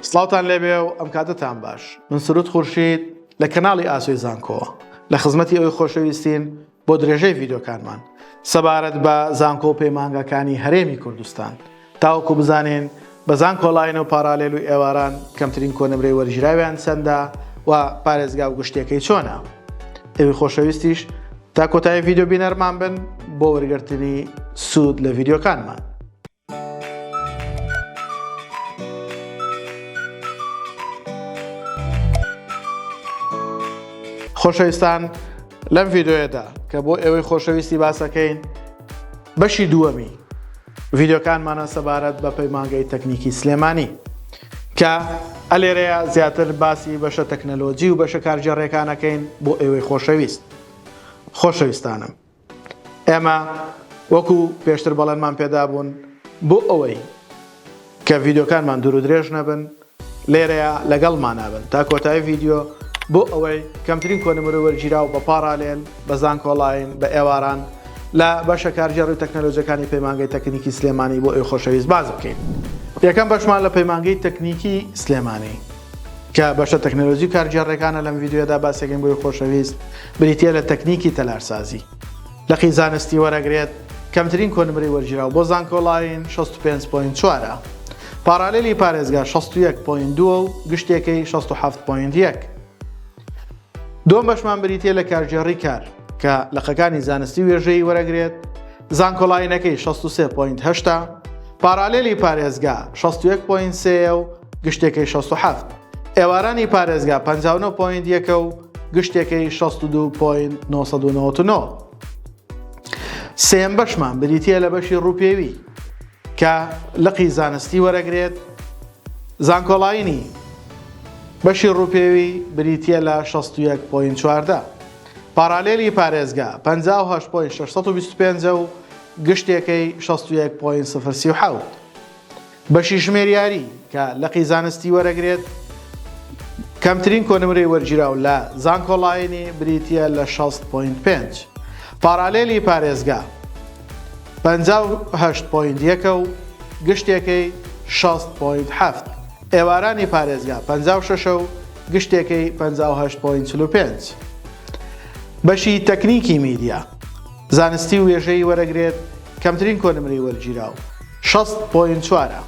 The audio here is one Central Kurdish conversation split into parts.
سڵاوتان لێبێ و ئەم کاتەتان باش من سرود خورشید لە کەناڵی ئاسۆی زانکۆوە لە خزمەتی ئەوی خۆشەویستین بۆ درێژەی ڤیدۆکانمان سەبارەت بە زانکۆ و پەیمانگاکانی هەرێمی کوردستان تاوەکو بزانین بە زانکۆلاین و پارالێل و ئێواران کەمترین کۆنمرەی وەرگیراویان چەندە و پارێزگا و گشتەکەی چۆنە ئەوی خۆشەویستیش تا کۆتایی ڤیددیو بینەرمان بن بۆ وەرگرتنی سوود لە ڤیددیوکانمان خۆشەویستان لەم ڤیددیوەدا کە بۆ ئێوەی خۆشەویستی باسەکەین بەشی دووەمی ڤیددیوکانمانە سەبارەت بە پەیمانگەی تەکنیکی سلێمانی کە ئەلێرەیە زیاتر باسی بەشە تەکنەلۆجی و بەشە کارگەڕێکانەکەین بۆ ئێوەی خۆشەویست خۆشەویستانم ئێمە وەکو پێشتر بەڵێنمان پێدابوون بۆ ئەوەی کە ڤیدۆکانمان دوور و درێژ نەبن لێرەیە لەگەڵ مانابن تا کۆتایی ڤیددیو بۆ ئەوەی کەمترین کۆنمرە وەرگیرا و بە پاڕالێن بە زانکۆڵین بە ئێواران لە بەشە کارگێڕی و تەکنەلۆجەکانی پەیمانگەی تەکنیکی سلێمانی بۆ ئەوی خۆشەویست باز بکەین یەکەم بەشمان لە پەیمانگەی تەکنیکی سلێمانی کە بەشە تەکنەلۆجی و کارگێڕێکانە لەم ڤیدیۆیەدا باسێکن بۆی خۆشەویست بریتیە لە تەکنیکی تەلارسازی لقی زانستی وەرەگرێت کەمترین کۆنمرەی وەرگیراو بۆ زانکۆلاین 65.4 پارالیلی پارێزگا 61.2 و گشتێکەی 67.1 دوم بەشمان بریتیە لە کارگێڕی کار کە لەقەکانی زانستی وێژەی وەرەگرێت زانکۆلاینەکەی 63.8 پارالیلی پارێزگا 61.3 و گشتێکەی شەست و حەفت. ئێوارانی پارێزگا پەنجا و نۆ پۆینت یەکە و گشتێکەی شەست و دوو پۆینت نۆ سەد و نەوەت و نۆ. سێیەم بەشمان بریتییە لە بەشی ڕووپێوی کە لقی زانستی وەرەگرێت زانکۆڵاینی بەشی ڕووپێوی بریتە لە 16.14 پارالێلی پارێزگا 1925 و گشتێکەی 16.07 بەشی ژمێریاری کە لقی زانستی وەرەگرێت کەمترین کۆنمرەی وەرگیراو لە زانکۆڵاینی بریتیە لە شەست پۆینت پێنج پارالێلی پارێزگا پەنجا و هەشت پۆینت یەکە و گشتێکەی شەست پۆینت حەفت ئێوارانی پارێزگا پەنجا و شەشە و گشتێکەی پەنجا و هەشت پۆینت چل و پێنج بەشی تەکنیکی میدیا زانستی و وێژەی وەرەگرێت کەمترین کۆنمرەی وەرگیراو شەست پۆینت چوار ە.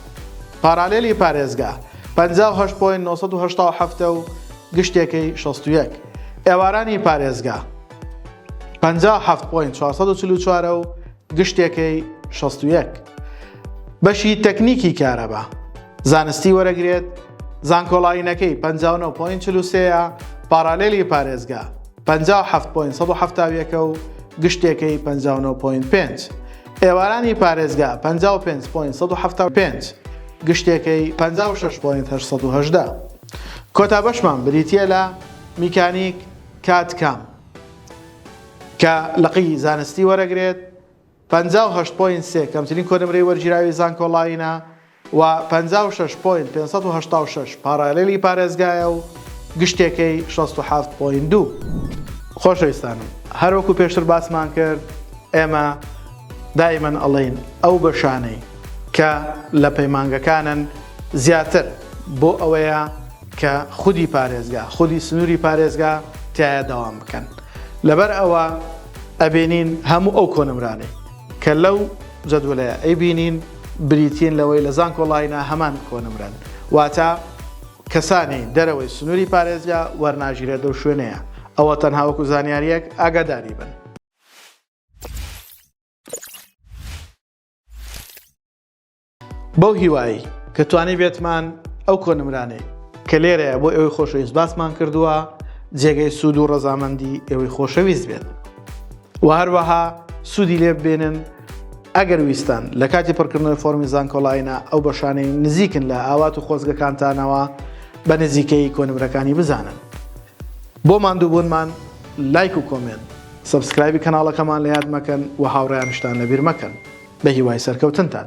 پارالێلی پارێزگا پەنجا و هەشت پۆینت نۆ سەد و هەشتا و حەفت ە و گشتێکەی شەست و یەک. ئێوارانی پارێزگا پەنجا و حەفت پۆینت چوار سەد و چل و چوار ە و گشتێکەی شەست و یەک. بەشی تەکنیکی کارەبا زانستی وەرەگرێت زانکۆلاینەکەی پەنجا و نۆ پۆینت چل و سێ ە. پارالێلی پارێزگا. پەنجا و حەفت پۆینت سەد و حەفتا و یەکە و گشتێکەی پەنجا و نۆ پۆینت پێنج. ئێوارانی پارێزگا پەنجا و پێنج پۆینت سەد و حەفتا و پێنج، گشتێکەی پەنجا و شەش پۆینت هەشت سەد و هەژدە. کۆتا بەشمان بریتییە لە میکانیک کات کام کە لقی زانستی وەرەگرێت، پەنجا و هەشت پۆینت سێ، کەمترین کۆنمرەی وەرگیراوی زانکۆڵاینە، و پەنجا و شەش پۆینت پێنج سەد و هەشتا و شەش پاڕایڵێلی پارێزگایە و گشتێکەی شەست و حەفت پۆینت دوو. خۆشەویستانم هەروەکو پێشتر باسمان کرد ئێمە دایمەن ئەڵێین ئەو بەشانەی کە لە پەیمانگەکانن زیاتر بۆ ئەوەیە کە خودی پارێزگا خودی سنوری پارێزگا تیایا داوام بکەن لەبەر ئەوە ئەبینین هەموو ئەو کۆنمرانەی کە لەو جەدولەیە ئەیبینین بریتین لەوەی لە زانکۆ ڵاینا هەمان کۆنمرەن واتە کەسانی دەرەوەی سنوری پارێزگا وەرناگیرێت لەو شوێنەیە ئەوە تەنها وەکو زانیاریەک ئاگاداری بن. بەو هیوایی کە توانی بێتمان ئەو کۆنمرانەی کە لێرەیە بۆ ئێوەی خۆشەویست باسمان کردووە جێگەی سوود و ڕەزامەندی ئێوەی خۆشەویست بێت. وە هەروەها سوودی لێ ببینن ئەگەر ویستان لە کاتی پڕکردنەوەی فۆرمی زانکۆلاینە ئەو بەشانەی نزیکن لە ئاوات و خۆزگەکانتانەوە بە نزیکەی کۆنمرەکانی بزانن بۆ ماندووبوونمان لایک و کۆمێنت سبسکرایبی کەناڵەکەمان لە یاد مەکەن و هاوڕیانشتان لەبیر مەکەن بە هیوای سەرکەوتنتان.